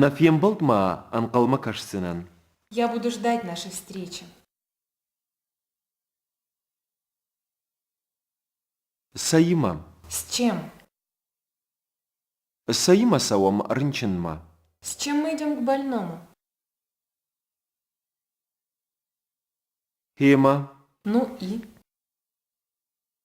Нӕ фембӕлд ма ӕнхъӕлмӕ кӕсдзынӕн. Я буду ждать нашей встречи. Цӕимӕ? С чем? Цӕимӕ цӕуӕм рынчынмӕ? С чем мы идем к больному? Фема? Ну и?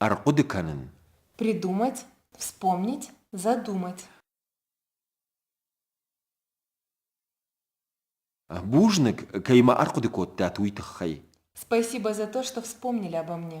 Ӕрхъуыды кӕнын. Придумать, вспомнить, задумать. Бузныг, кӕй ма ӕрхъуыды кодтат, уый тыххӕй. Спасибо за то, что вспомнили обо мне.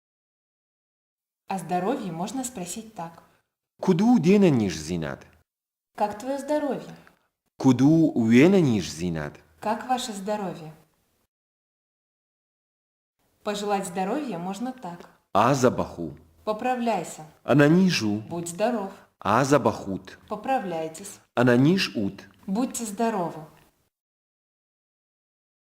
о здоровье можно спросить так куыд у де нӕниздзинад как твое здоровье куыд у уе нӕниздзинад как ваше здоровье пожелать здоровья можно так азабах у поправляйся anaниз у будь здоров азабах ут поправляйтесь anaниз ут будьте здоровы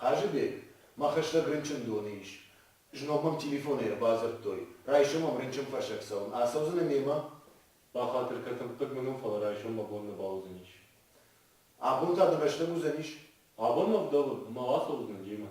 Хъазыбег, мӕ хӕстӕг рынчындоны ис. Знон мӕм телефонӕй ӕрбадзырдтой, райсом ӕм рынчынфӕрсӕг цӕуын. Ацӕудзынӕ мемӕ? Бахатыр кӕ, тӕмппӕг мын у, фӕлӕ райсом мӕ бон нӕ бауыдзӕнис. Абон та ды рӕстӕг уыдзӕнис? Абон мӕ вдӕлы, ӕмӕ уӕ ацӕут нын демӕ.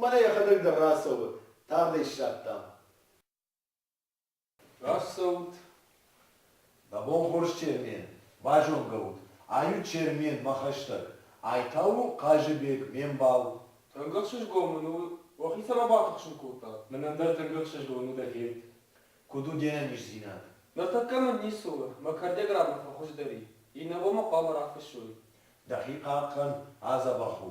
Мӕнӕ йӕхӕдӕг дӕр рацӕуы, тагъд ӕй ссардтам. Рацӕут, мӕ бон хорз Чермен, базонгӕ ут, ай у Чермен, мӕ хӕстӕг, ай та у Хъазыбег, ме мбал. Тӕнгӕхсызгон мын у, уӕхи цӕмӕ батыхсын кодта? Мын ӕндӕр тӕнгӕхсызгон у дӕ фед. Куыд у де нӕниздзинад? Ныртӕккӕ мын ницы у, мӕ кӕрдӕграммӕ фӕхуыздӕр и, иннӕбон мӕ хъуамӕ рафыссой. Дӕхи хъахъхъӕн, адзӕбӕх у.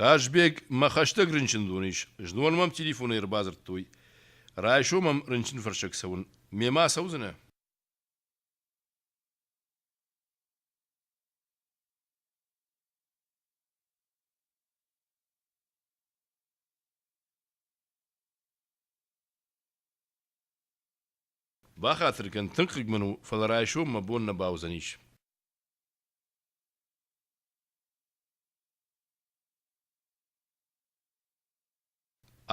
Хъазбег, мӕ хӕстӕг рынчындон ис, знон мӕм телефонӕй ӕрбадзырдтой. Райсом мӕм рынчынфӕрсӕг цӕуын. Мемӕ ацӕудзынӕ? Бахатыр кӕн, тынг хъыг мын у, фӕлӕ райсом мӕ бон нӕ бауыдзӕнис.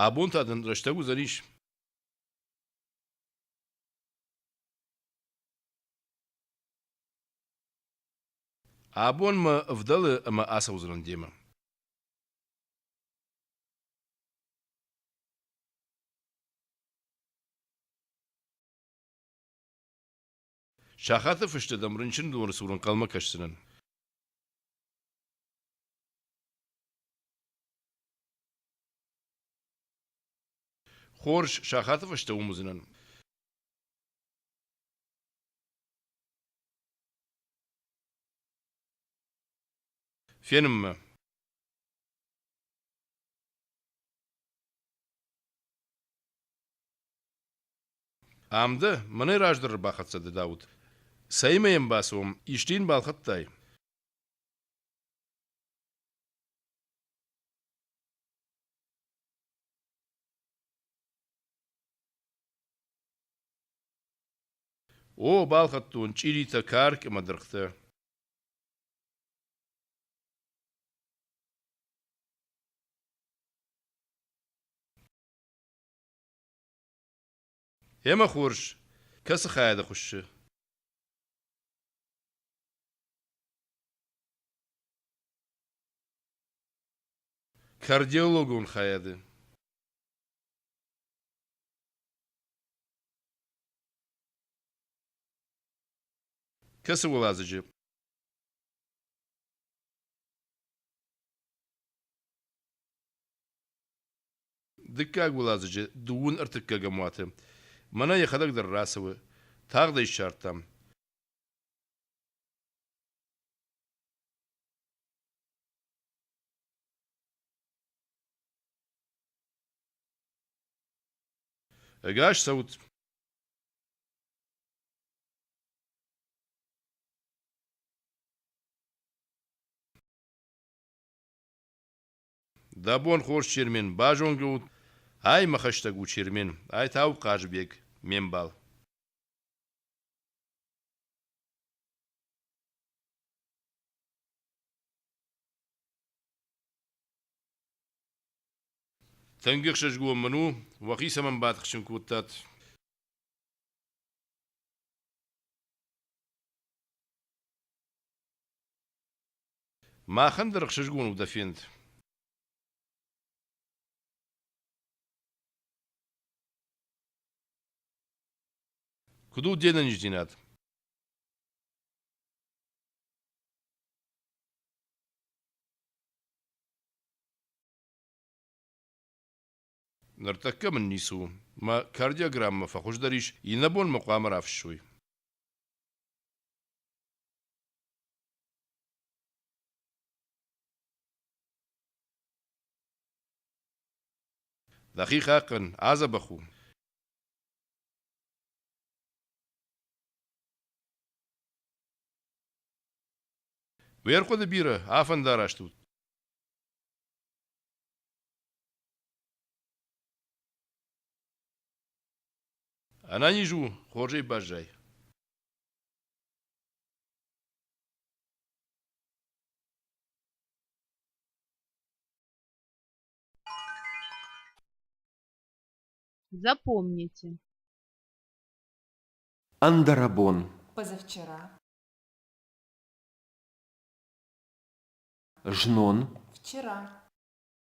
Абон та дын рӕстӕг уыдзӕнис? Абон мӕ ӕвдӕлы ӕмӕ ацӕудзынӕн демӕ. Сахаты фысты дӕм рынчындоны цур ӕнхъӕлмӕ кӕсдзынӕн. Хорз, сахаты фӕстӕ уым уыдзынӕн. Фенын мӕ. Ам дӕ, мӕнӕй раздӕр ӕрбахӕццӕ дӕ, Дауыт. Цӕимӕ йӕм бацӕуӕм, исчи йын балхӕдтай? О, балхӕдтон чъиритӕ, карк ӕмӕ дыргътӕ. Емӕ хорз, кӕцы хайады хуыссы? Кардиологон хайады. Кӕцы уӕладзыджы? Дыккаг уӕладзыджы дыууын ӕртыккӕгӕм уаты мӕнӕ йӕхӕдӕг дӕр рацӕуы, тагъд ӕй ссардтам. Ӕгас цӕут! Дӕ бон хорз, Чермен, базонгӕ ут ӕй, мӕ хӕстӕг у Чермен, ай та у Хъазыбег, ме мбал. Тынг ӕхсызгон мын у, уӕхи цӕмӕн батыхсын кодтат. Махӕн дӕр ӕхсызгон у дӕ фенд. Куыд у де нӕниздзинад? Ныртӕккӕ мын ницы у, мӕ кардиограммӕ фӕхуыздӕр ис, иннӕбон мӕ хъуамӕ рафыссой. Дӕхи хъахъхъӕн, адзӕбӕх у. Уе рхъуыды бирӕ афӕндараст ут. Ӕнӕниз у хорзӕй баззай. Запомните. Андерабон. Позавчера. Жнон. Вчера.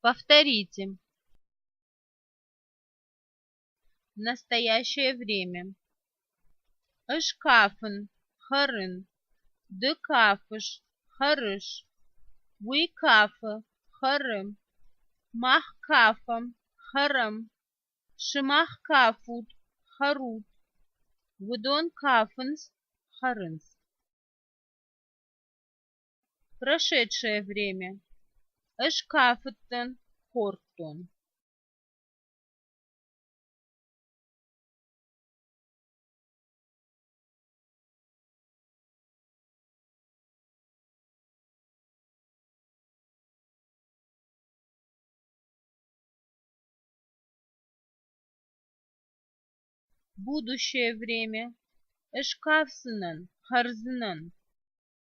повторите в настоящее время ышкафын хырын ды кафыш хырыш уый кафы хыры мах кафӕм хырым сымах кафут хӕрут уыдон кафынц хӕрынц прошедшее время ӕз кафыдтӕн хордтон будущее время ӹшкафсынӕн, хӕрзынӕн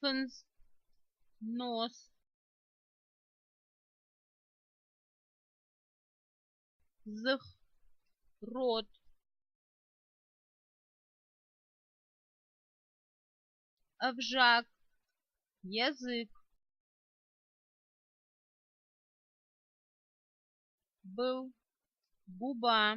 фындз, нос, дзых, рот, ӕвзаг, язык, был, губа,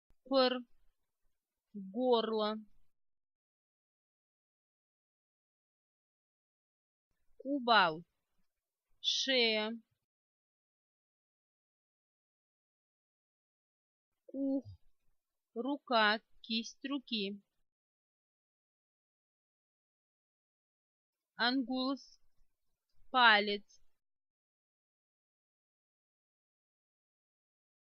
пыр горло кубал шея кух рука кисть руки ангулус палец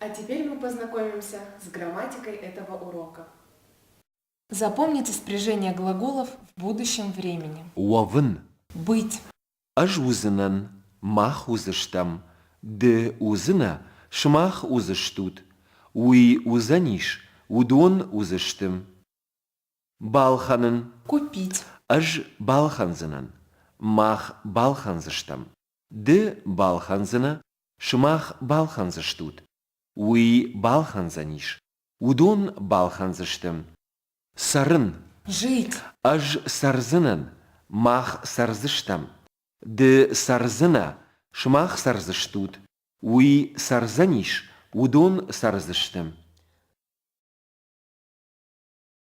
а теперь мы познакомимся с грамматикой этого урока запомнить распоряжение глаголов в будущем времени уӕвын быть ӕз уыдзынӕн мах уыдзыстӕм ды уыдзынӕ сымах уыдзыстут уый уыдзӕнис уыдон уыдзысты балхӕнын купить ӕз балхӕндзынӕн мах балхӕндзыстӕм ды балхӕндзынӕ Сымах балхӕндзыстут, уый балхӕндзӕнис, уыдон балхӕндзысты. Цӕрын. Жить. Ӕз цӕрдзынӕн, мах цӕрдзыстӕм. Ды цӕрдзынӕ, сымах цӕрдзыстут, уый цӕрдзӕнис, уыдон цӕрдзысты.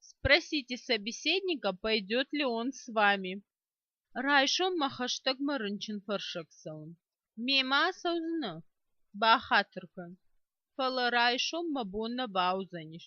спросите собеседника пойдет ли он с вами райсом ма хӕстӕгмӕ рынчынфӕрсӕгцӕуын мемӕ ацӕудзынӕ бахатыркӕн фӕлӕ райсом мӕ бон нӕ бауыдзӕнис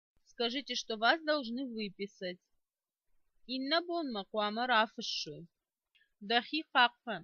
Скажите, что вас должны выписать. Иннабонмӕ хъуамӕ рафыссой. Дӕхи хъахъхъӕн.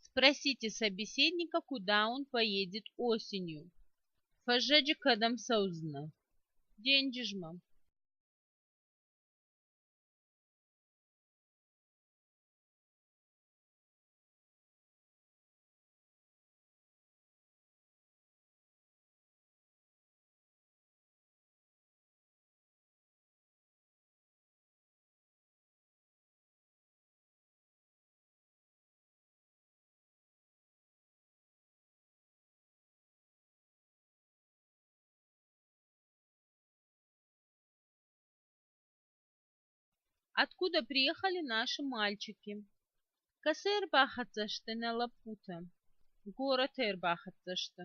спросите собеседника куда он поедет осенью фӕззӕджы кӕдӕм цӕудзынӕ денджызмӕ откуда приехали наши мальчики косые ӕрбахӕццӕ сты нӕ лӕппутӕ горӕты ӕрбахӕццӕ сты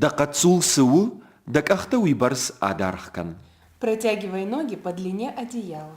Дӕ хъӕццул цы у, дӕ къӕхтӕ уыйбӕрц адаргъ кӕн. Протягивай ноги по длине одеяла.